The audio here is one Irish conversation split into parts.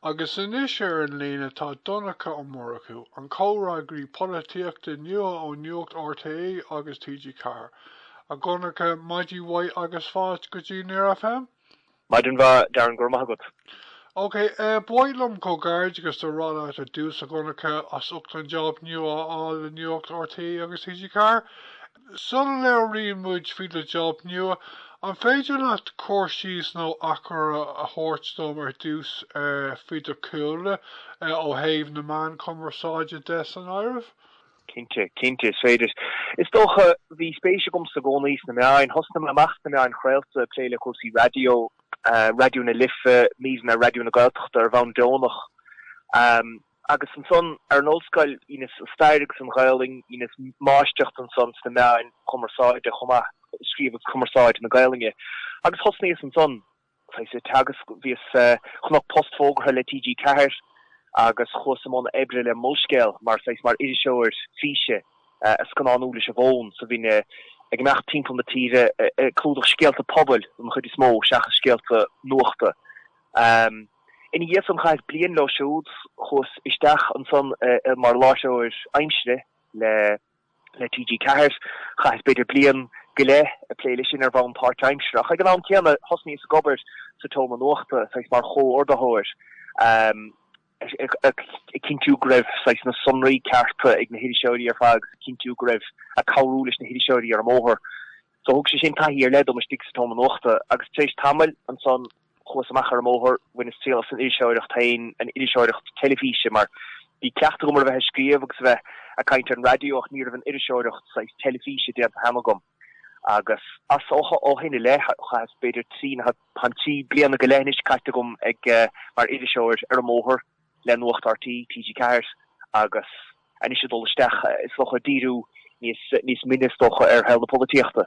Agus anois ar an líne tá Donncha Ó Murchú, an comhfhreagraí polaitíochta nua ó Nuacht RTÉ agus TG4. A Dhonncha, maidin mhaith agus fáilte go dtí Near FM! Maidin mhaith, Darren, go raibh maith agat. OK, ba mhaith liom comhghairdeachas a rá leat ar dtús, a Dhonncha, as ucht an jab nua a fháil le Nuacht RTÉ agus TG4. sula labhraíonn muid faoi do job nua, an féidir leat cur síos nó achoimre a thabhairt dom ar dtús faoi do chúlra, ó thaobh na meán cumarsáide de san áireamh? Cinnte, cinnte, is féidir. Is dócha, bhí spéis agamsa i gcónaí sna meáin. Thosnaigh mé amach sna meáin chraolta, ag plé le cúrsaí raidió, Raidió na Life, míreanna Raidió na Gaeltachta ar bhonn deonach. Agus ansan, ar an ollscoil, dheineas an stair agus an Ghaelainn, dheineas máistreacht ansan sna meáin chumarsáide chomh maith, scríobh agus cumarsáid na Gaelainne. Agus thosnaíos ansan, saghas, ag teagasc, bhíos, chonac post fógartha le TG4 agus chuas i mbun oibre le Molscéal mar, saghas, mar iriseoir físe, a' scannánú leis an bhfón, so bhínn ag imeacht timpeall na tíre ag clúdach scéalta pobail don chuid is mó seachas scéalta nuachta. Ina dhiaidh san chaitheas bliain leo siúd, chuas isteach ansan mar láithreoir aimsire le TG 4, chaitheas b'fhéidir bliain go leith ag plé leis sin ar bhonn páirt-aimseartha ach ag an am céanna thosnaíos ag obair sa tSeomra Nuachta, saghas mar chomhordaitheoir, ag cinntiú go raibh saghas na sonraí cearta ag na hiriseoirí ar fad agus ag cinntiú go raibh, ag cabhrú leis na hiriseoirí ar an mbóthar. So thug sé sin taithí ar leith dom istigh sa tSeomra Nuachta agus tar éis tamaill ansan, Chuas amach ar an mbóthar, bhaineas triail as an iriseoireacht féin, an iriseoireacht teilifíse, mar bhí cleachtadh agam ar a bheith ag scríobh agus a bheith ag caint ar an raidió ach ní raibh an iriseoireacht, saghas teilifíse, déanta cheana agam. Agus as ó shin i leith, chaitheas b'fhéidir trí, tá trí bliana go leith anois caite agam ag, mar iriseoir ar an mbóthar le Nuacht RTÉ, TG4 agus anois ag dul isteach, is dócha, ag díriú níos, níos mine is dócha, ar shaol na polaitíochta.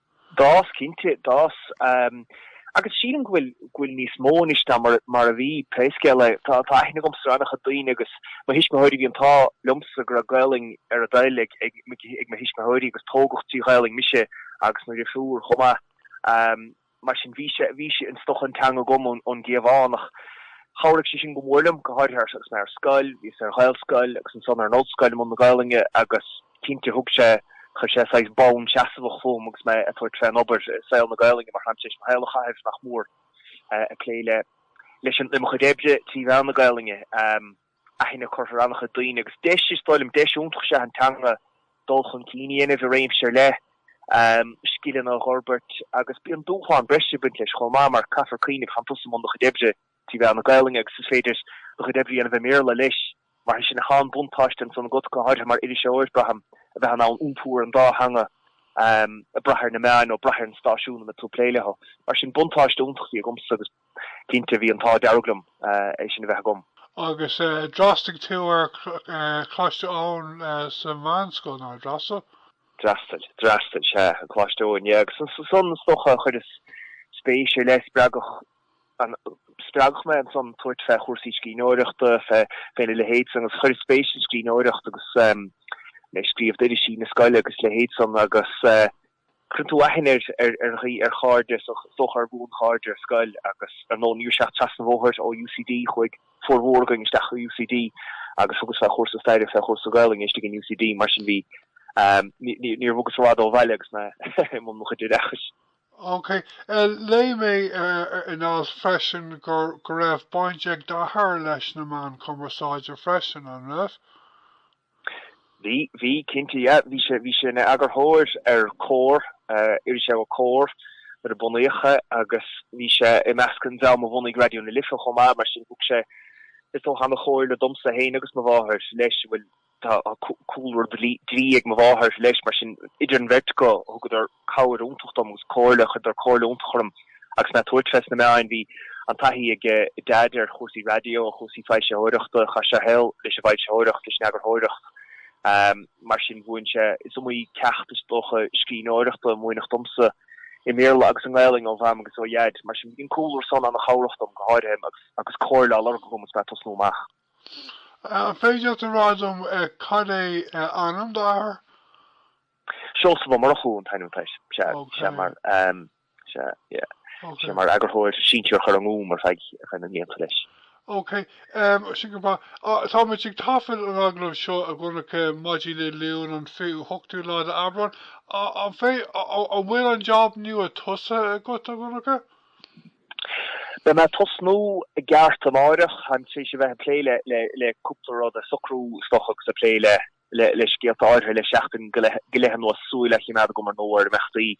D'fhás, cinnte, d'fhás. Agus sílim go bhfuil níos mó anois ná mar a bhí, pé scéal é. Tá aithne agamsa ar an-chuid daoine agus mo thuismitheoirí, bhí an t-ádh liomsa go raibh Gaelainn ar a dtoil ag mo thuismitheoirí agus tógadh trí Ghaelainn mise agus mo dhrifiúr chomh maith. Mar sin, bhí sé, bhí sé is dócha an teanga agam ón gcliabhán ach chabhraigh sé sin go mór liom, go háirithe agus mé ar scoil, bhíos ar Ghaelscoil agus ansan ar an Ollscoil i mbun na Gaelainne agus, Cinnte, thug sé, chuir sé saghas bonn seasmhach fúm agus mé ag tabhairt fén obair i saol na Gaelainne, mar táim tar éis mo shaol a chaitheamh, nach mór, ag plé le, leis an, le mo chuid oibre trí mheán na Gaelainne. Aithne curtha ar an-chuid daoine agus deis, is dóigh liom, deis iontach is ea an teanga dul chun cinn a dhéanamh i réimse ar leith, scileanna a fhorbairt agus bíonn dúshlán breise ag baint leis chomh maith mar caithfear cuimhneamh, tánn tusa i mbun do chuid oibre trí mheán na Gaolainne agus is féidir do chuid oibre a dhéanamh i mBéarla leis. Mar sin, tá an-bhuntáiste ansan agat, go háirithe mar iriseoir, braithim, a bheith in ann iompú ar an dá theanga, ag brath ar na meáin nó ag brath ar an stáisiún ina bhfuil tú ag plé leo. Mar sin, buntáiste iontach a bhí agamsa agus cinnte bhí an t-ádh dearg liom é sin a bheith agam. Agus d'fhreastail tú ar Choláiste Eoin sa mheánscoil, nár dhreastail? D'fhreastail, d'fhreastail, sea, ar Choláiste Eoin, yeah. Agus ansan, is dócha, chuireas spéis ar leith, spreagadh, Spreagadh mé ansan tabhairt fé chúrsaí scríbhneoireachta, fé a leithéid san, agus chuireas spéis sa scríbhneoireacht agus mé ag scríobh d'irisí na scoile agus a leithéid san, agus cuireann tú aithne ar dhaoine, ar chairde, is dócha ar bhuanchairde ar scoil, agus ar ndóigh, ní raibh sé ach trasna an bhóthair ó UCD, chuaigh formhór againn isteach go UCD agus thugas fé chúrsa staire, fé chúrsa Gaolainne istigh in UCD, mar sin bhí, níor bhogas i bhfad ó bhaile agus mé i mbun mo chuid oideachais. OK. Léigh mé in alt freisin go raibh baint ag d'athair leis na meáin chumarsáide freisin, an raibh? Bhí, bhí, cinnte, yeah. Bhí sé, bhí sé ina eagarthóir ar Comhar, irisleabhar Comhar, nuair a bunaíodh é agus bhí sé i measc an dream a bhunaigh Raidió na Life chomh maith, mar sin thug sé, is dócha, an-chomhairle domsa féin agus mo mháthair, leis, a bhfuil, Tá cúlra dlí ag mo mháthair, leis, mar sin idir an bheirt acu thugadar cabhair iontach dom agus comhairle, chuireadar comhairle iontach orm agus mé ag tabhairt fé sna meáin. Bhí an-taithí ag Deaid ar chúrsaí raidió, ar chúrsaí foilsitheoireachta, chaith sé a shaol leis an bhfoilsitheoireacht, leis an eagarthóireacht, mar sin mhúin sé, is iomaí ceacht is dócha scríbhneoireachta a múineadh domsa i mBéarla agus i nGaolainn ó Mham agus ó Dheaid. Mar sin bhí an cúlra san an-chabhrach dom, go háirithe agus comhairle á lorg agam agus mé ag tosnú amach. An féidir leat a rá dom cad é ainm d'athar? Seosamh Ó Murchú an t-ainm atá air. Bhí sé mar eagarthóir sinsearach ar an nGúm ar feadh na mblianta leis. Ok, sin go breá. Táimid ag taifead an agallaimh seo a Dhonncha, maidin Dé Luain an 28ú lá de Aibreán. An bhfuil an jab nua tosaithe agat, a Dhonncha? Beidh mé ag tosnú i gceart amáireach, táim tar éis a bheith ag plé le cúpla rud, ag socrú isteach agus ag plé le scéalta áirithe le seachtain go leith anuas, súil á choimeád agam ar ndóigh ar imeachtaí.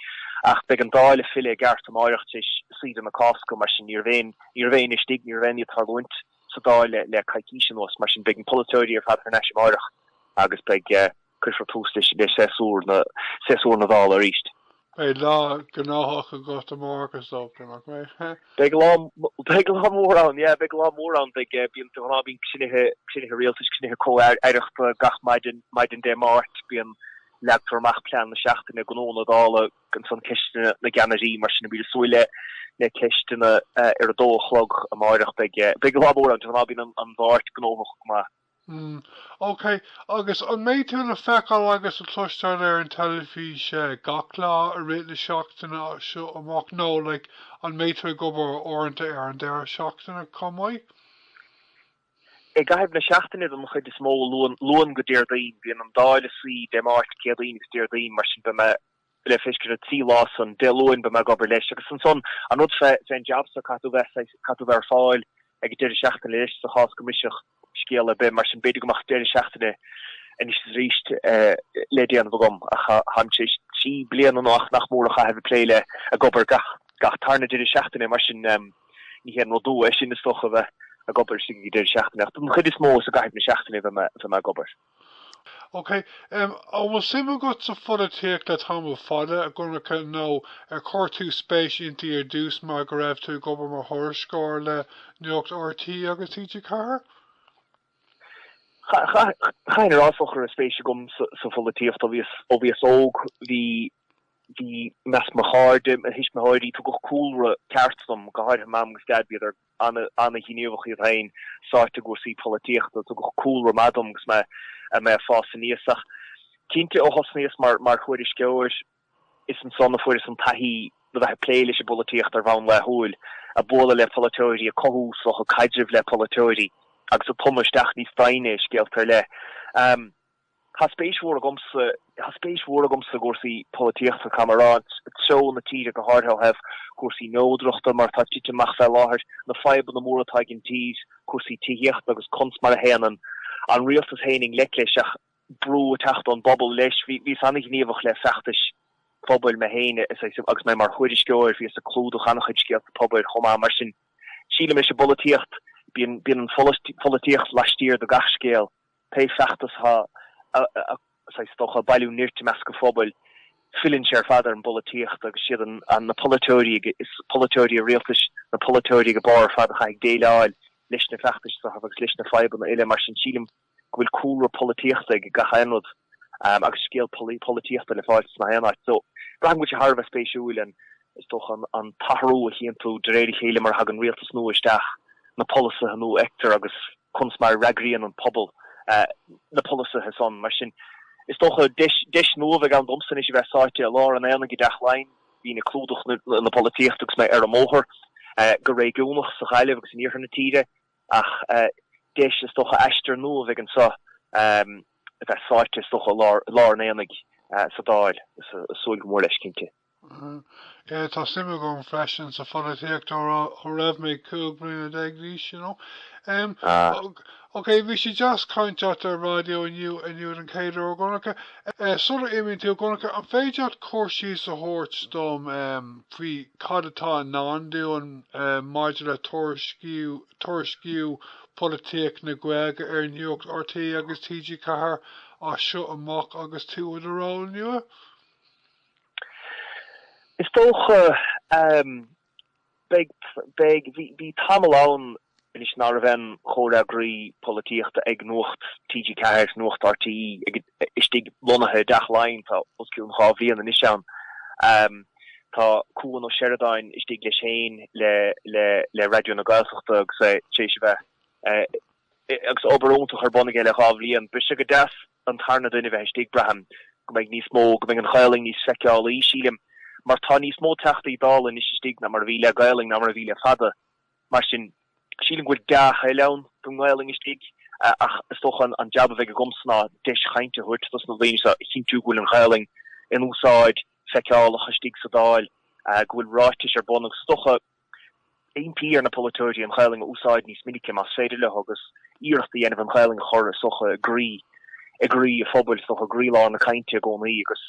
Ach beidh an Dáil ag filleadh i gceart amáireach tar éis saoire na Cásca, mar sin ní raibh éinne, ní raibh éinne istigh, ní raibh aon ní ag tarlúint sa Dáil le coicís anuas, mar sin beidh na polaiteoirí ar fad thar n-ais amáireach agus beidh. Cuirfear tús le séasúr na, séasúr na Dála arís. Beidh lá gnóthach agat amárach is dócha, nach mbeidh? Beidh lá beidh lá mór ann, yeah, beidh lá mór ann, beidh eh, bíonn, de ghnáth bíonn cruinnithe, cruinnithe rialtais, cruinnithe comh-aireachta gach maidin, maidin Dé Máirt, bíonn, leagtar amach plean na seachtaine, gnó na Dála, ansan ceisteanna na gceannairí, mar sin, beimid ag súil le, le ceisteanna eh ar a dó a chlog amárach, beidh eh, beidh lá mór ann, de ghnáth bíonn an, an Mháirt gnóthach go maith. mm. ok, agus an mbeidh tú le feiceáil agus le cloisteáil ar an teilifís gach lá i rith na seachtaine as seo amach nó like an mbeidh tú ag obair uaireanta ar an deireadh seachtaine chomh maith? I gcaitheamh na seachtaine don chuid is mó, Luan go Déardaoin. Bíonn an Dáil ag suí Dé Máirt, Céadaoin agus Déardaoin, mar sin beidh mé le feiscint na trí lá san Dé Luain beidh mé ag obair leis agus ansan an rud fé an jab so caithfidh tú bheith saghas, caithfidh tú bheith ar fáil ag an deireadh seachtaine leis sa chás go mbrisfeadh scéal ar bith mar sin b'fhéidir go mbeadh deireadh seachtaine anois is arís le déanamh agam ach táim tar éis trí bliana nó nach mór a chaitheamh ag plé le, ag obair gach, gach tarna deireadh seachtaine mar sin ní haon rud nua é sin is dócha a bheith ag obair istigh ag an deireadh seachtaine ach don chuid is mó is i gcaitheamh na seachtaine a bheidh mé, a bheidh mé ag obair. OK, em, an bhfuil suim agat sa pholaitíocht le tamall fada, a Dhonncha, nó ar chuir tú spéis inti ar dtús mar go raibh tú ag obair mar thuairisceoir le Nuacht RTÉ agus TG4? Cha, cha, chaithfinn a rá is dócha go raibh spéis agam sa, sa pholaitíocht ó bhíos, ó bhíos óg, bhí, bhí, i measc mo chairde, mo thuismitheoirí, tugadh cúlra ceart dom, go háirithe Mam agus Dad, bhíodar, an-ghníomhach iad féin, sáite i gcúrsaí polaitíochta. Tugadh cúlra maith dom agus mé ag fás aníos ach cinnte ó thosnaíos mar thuairisceoir, is ansan a fuaireas an taithí le bheith ag plé leis an bpolaitíocht ar bhonn laethúil, ag bualadh le polaiteoirí, ag cothú slata caidrimh le polaiteoirí agus ag tumadh isteach níos doimhne i scéalta ar leith. Tá spéis mhór agamsa, tá spéis mhór agamsa i gcúrsaí polaitíochta, táim ag rá, treo na tíre go háirithe ó thaobh cúrsaí neodrachta mar atá tite amach fé láthair, na fadhbanna móra atá ag an tír, cúrsaí tithíochta agus conas mar a théann an an rialtas féin i ngleic leis an mbrú ag teacht ón bpobal leis. Bhíos an-ghníomhach le feachtais phobail mé féin agus mé mar thuairisceoir, bhíos ag clúdach an-chuid scéalta pobail chomh maith mar sin sílim leis an bpolaitíocht, bíonn an pholaitíocht laistiar de gach scéal. Pé feachtas atá is dócha ag bailiú nirt i measc an phobail, filleann sé ar fad ar an bpolaitíocht agus siad an na polaiteoirí ag is polaiteoirí an rialtais na polaiteoirí ag an mbarr ar fad a chaithfidh déileáil leis na feachtais seo agus leis na fadhbanna uile. Mar sin, sílim go bhfuil cúlra polaitíochta ag gach aon rud agus scéal polaitíochta le fáil ins gach aon áit. So, braithim go bhfuil sé thar a bheith spéisiúil an is dócha an t-athrú a chíonn tú de réir a chéile mar a thagann rialtas nua isteach, na polasaithe nua a fheictear agus. Chun's mar a fhreagraíonn an pobal na polasaithe san, mar sin? Is dócha, deis nua a bheidh ann domsa anois a bheith sáite i lár an aonaigh i dTeach Laighin, bhínn ag clúdach na polaitíochta agus mé ar an mbóthar, go réigiúnach, sa Ghaillimh agus in iarthar na tíre, ach deis, is dócha, aistear nua a bheidh anseo, a bheith sáite, is dócha, i lár an aonaigh sa Dáil, is súil go mór leis, cinnte. Tá suim agam freisin sa pholaitíocht ó raibh mé cúig bliana déag d'aois, you know. Em, ok, bhí sé deas caint leat ar raidió inniu, inniu den chéad uair, a Dhonncha. Eh, sula n-imíonn tú, a Dhonncha, an féidir leat cur síos a thabhairt dom, em, faoi cad atá i ndán dúinn, em, maidir le tuairisciú, tuairisciú polaitíocht na Gaeilge ar Nuacht RTÉ agus TG4 as seo amach agus tú i do ról nua? Is dócha. Beidh, beidh. Bhí tamall ann anois ná raibh aon chomhfhreagraí polaitíochta ag Nuacht TG4, Nuacht RTÉ istigh lonnaithe i dTeach Laighean, tá os cionn dhá bhliain anois ann. Tá Cuan Ó Seireadáin istigh leis fé réim le, le, le Raidió na Gaeltachta agus é tar éis a bheith, agus obair iontach ar bun aige le dhá bhliain. Beidh sé go deas. an tarna duine bheith istigh. Braithim go mbeidh níos mó, go mbeidh an Ghaelainn níos feiceálaí, sílim, mar tá níos mó Teachtaí Dála anois istigh ná mar a bhí le Gaelainn ná mar a bhí le fada. Mar sin, sílim go bhfuil dea-thoil ann don nGaelainn istigh ach is dócha an jab a bheidh agamsa ná deis cainte a thabhairt dos na daoine seo, a chinntiú go bhfuil an Ghaelainn in úsáid, feiceálach istigh sa Dáil, go bhfuil ráitis ar bun agus is dócha, Impí ar na polaiteoirí an Ghaelainn a úsáid níos minice más féidir leo agus iarracht a dhéanamh an Ghaelainn a chur is dócha i gcroí, i gcroí an phobail, is dócha i gcroílár na cainte i gcónaí agus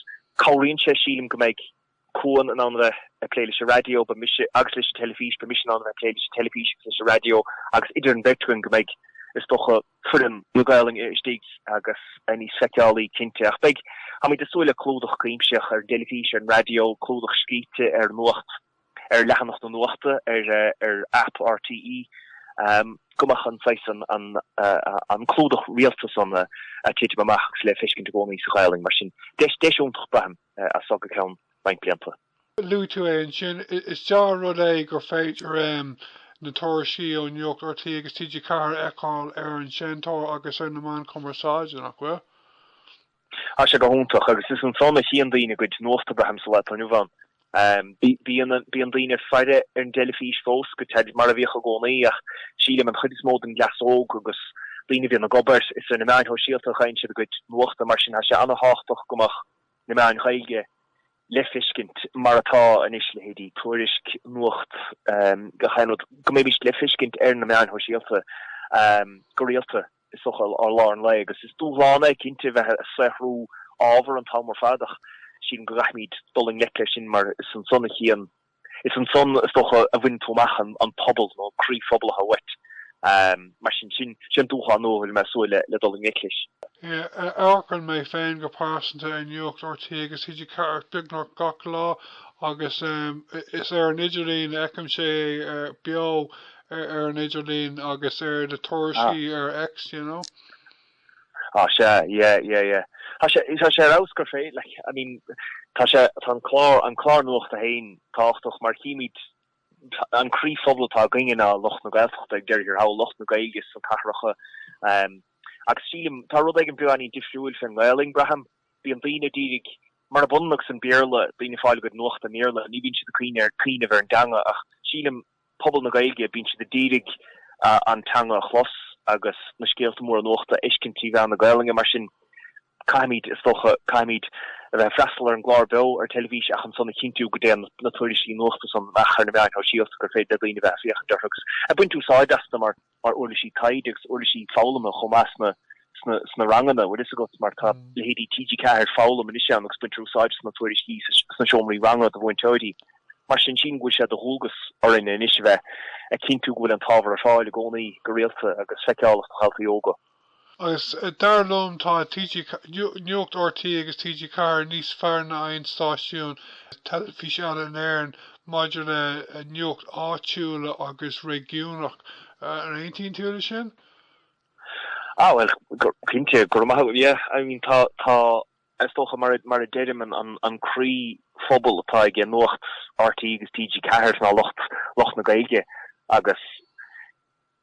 cabhraíonn sé, sílim, go mbeidh Cuan in ann a bheith ag plé leis an raidió, beidh agus leis an teilifís, beidh mise in ann a bheith ag plé leis an teilifís agus leis an raidió agus idir an bheirt againn go mbeidh, is dócha, foireann na Gaelainne istigh agus níos feiceálaí, cinnte, ach beidh, táimid ag súil le clúdach cuimsitheach ar an dteilifís, ar an raidió, clúdach scríte ar Nuacht ar leathanach na nuachta ar aip RTÉ go mbeadh an saghas san, an clúdach rialta san ag titim amach agus le feiscint i gcónaí sa Ghaelainn. Mar sin, deis iontach, braithim, as seo go ceann roinnt blianta. Luaigh tú é ansin. Is dea-rud é gur féidir na tuairiscí ó Nuacht RTÉ agus TG4 a fheiceáil ar an Seinnteoir agus ar na meáin chumarsáide, nach bhfuil? Tá sé go hiontach agus is ansan a chíonn daoine a gcuid nuachta, braithim, sa lá atá inniu ann. Bíonn daoine ag faire ar an dteilifís fós, gan dabht, mar a bhíodh i gcónaí ach sílim an chuid is mó den gcleas óg agus daoine a bhíonn ag obair, is ar na meáin shóisialta a chíonn siad a gcuid nuachta mar sin tá sé an-tábhachtach go mbeadh na meáin Ghaeilge le feiscint mar atá anois, leithéidí Tuairisc, Nuacht TG4, go mbeimis le feiscint ar na meáin shóisialta go rialta. Is dócha ar lár an lae agus is dúshlán é cinnte a bheith a' saothrú ábhar an t-am ar fad ach sílim go gcaithfimid dul i ngleic leis sin mar is ansan a chíonn, is ansan is dócha a bhaineann tú amach an pobal nó an croí phobal atá uait. Mar sin, sin an dúshlán nua a bhfuil mé ag súil le dul i ngleic leis. Amharcann mé féin go pearsanta ar Nuacht RTÉ agus TG4 beagnach gach lá agus is ar an idirlíon a fheicim é beo. ar an idirlíon agus ar na tuairiscí ar X, you know. Ah, sea, yeah, yeah, yeah. Tá sé, tá sé ar fheabhas gur féidir, like, I mean, tá sé, tá an clár, an clár nuachta féin tábhachtach mar déarfaimid an croíphobal atá againne ná lucht na Gaeltachta ag deireadh thiar thall, lucht na Gaeilge sna cathracha. Agus sílim, tá rud éigin beagáinín difriúil faoin nGaelainn, braithim. Bíonn daoine ag díriú, murab ionann agus an Béarla, daoine ag fáil a gcuid nuachta i mBéarla, ní bhíonn siad ag cuimhneamh ar an dteanga ach sílim, pobal na Gaeilge, bíonn siad a d'iarraidh an teanga a chlos agus na scéalta móra nuachta a fheiscint trí mheán na Gaolainne. Mar sin, caithfimid, is dócha, caithfimid a bheith ag freastal ar an gclár beo ar an teilifís ach ansan a chinntiú go dtéann na tuairiscí nuachta san amach ar na meáin shóisialta gur féidir le daoine a bheith ag féachaint orthu agus ag baint úsáide astu mar mar uirlisí taighde agus uirlisí foghlama chomh maith sna, sna ranganna, bhfuil fhios agat, mar tá leithéidí TG4 Foghlaim anois ann agus baintear úsáid as na tuairiscí sna seomraí ranga do mhúinteoirí. Mar sin, sílim go bhfuil sé de dhualgas orainn anois a bheith a chinntiú go bhfuil an t-ábhar ar fáil i gcónaí, go rialta, agus feiceálach do dhaltaí óga. Agus dar liom tá TG Nuacht RTÉ agus TG Ceathair níos fearr ná aon stáisiún teilifís eile in Éirinn maidir le nuacht áitiúla agus réigiúnach. An aontaíonn tú leis sin? Ah bhuel, cinnte, go raibh maith agat. Yeah, I mean tá, tá, is dócha mar a, mar a deirim an croí phobal atá aige Nuacht RTÉ agus TG Ceathair ná lucht, lucht na Gaeilge agus,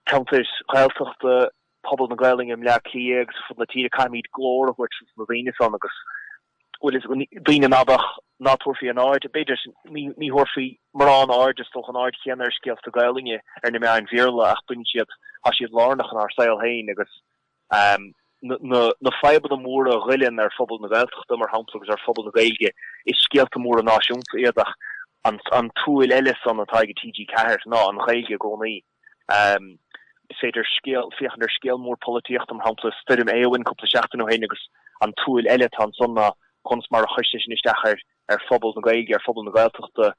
ceantair Ghaeltachta, pobal na Gaelainne i mBleá Cliath agus ar fud na tíre, caithfimid glór a thabhairt dos na daoine san agus, bhfuil fhios agat, daoine b'fhéidir ná tabharfaí an aird, b'fhéidir, ní thabharfaí mórán aird, is dócha, an aird chéanna ar scéalta Gaelainne ar na meáin Bhéarla ach baineann siad, tá siad lárnach inár saol féin agus na fadhbanna móra a ghoilleann ar phobal na Gaeltachta, mar shampla, agus ar phobal na Gaeilge, is scéalta móra náisiúnta iad ach an tsúil eile san atá aige TG4 ná an Ghaeilge i gcónaí. Is féidir scéal, féachaint ar scéal mór polaitíochta, mar shampla stoirm Éowyn cúpla seachtain ó shin agus an tsúil eile atá ansan ná conas mar a chuir sé sin isteach ar ar phobal na Gaeilge, ar phobal na Gaeltachta,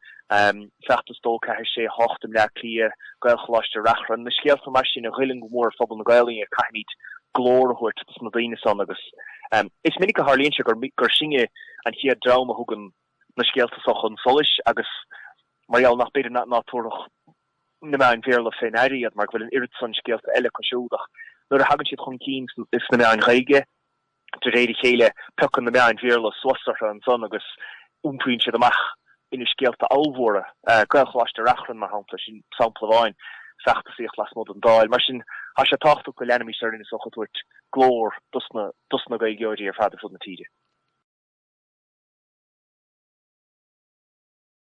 feachtas dó ceathair sé hocht i mBleá Cliath, Gaelcholáiste Reachrann, na scéalta mar sin a ghoilleann go mór ar phobal na Gaolainne agus caithfimid glór a thabhairt dos na daoine san agus is minic a tharlaíonn sé gur sinne an chéad dream a thugann na scéalta so chun solais agus mar gheall ar b'fhéidir ná tabharfadh na meáin Bhéarla fé ndear iad, mar go bhfuil an oiread san scéalta eile acu siúd, ach nuair a thagann siad chun cinn sna meáin Ghaeilge, de réir a chéile, piocann na meáin Bhéarla suas orthu ansan agus iompraíonn siad amach ina scéalta ollmhóra. Gaelcholáiste Reachrann, mar shampla, sin sampla amháin, feachtasaíocht lasmuigh den Dáil. Mar sin, tá sé tábhachtach go leanaimis orainn, is dócha, ag tabhairt glór dos na dos na Gaeilgeoirí ar fad ar fud na tíre.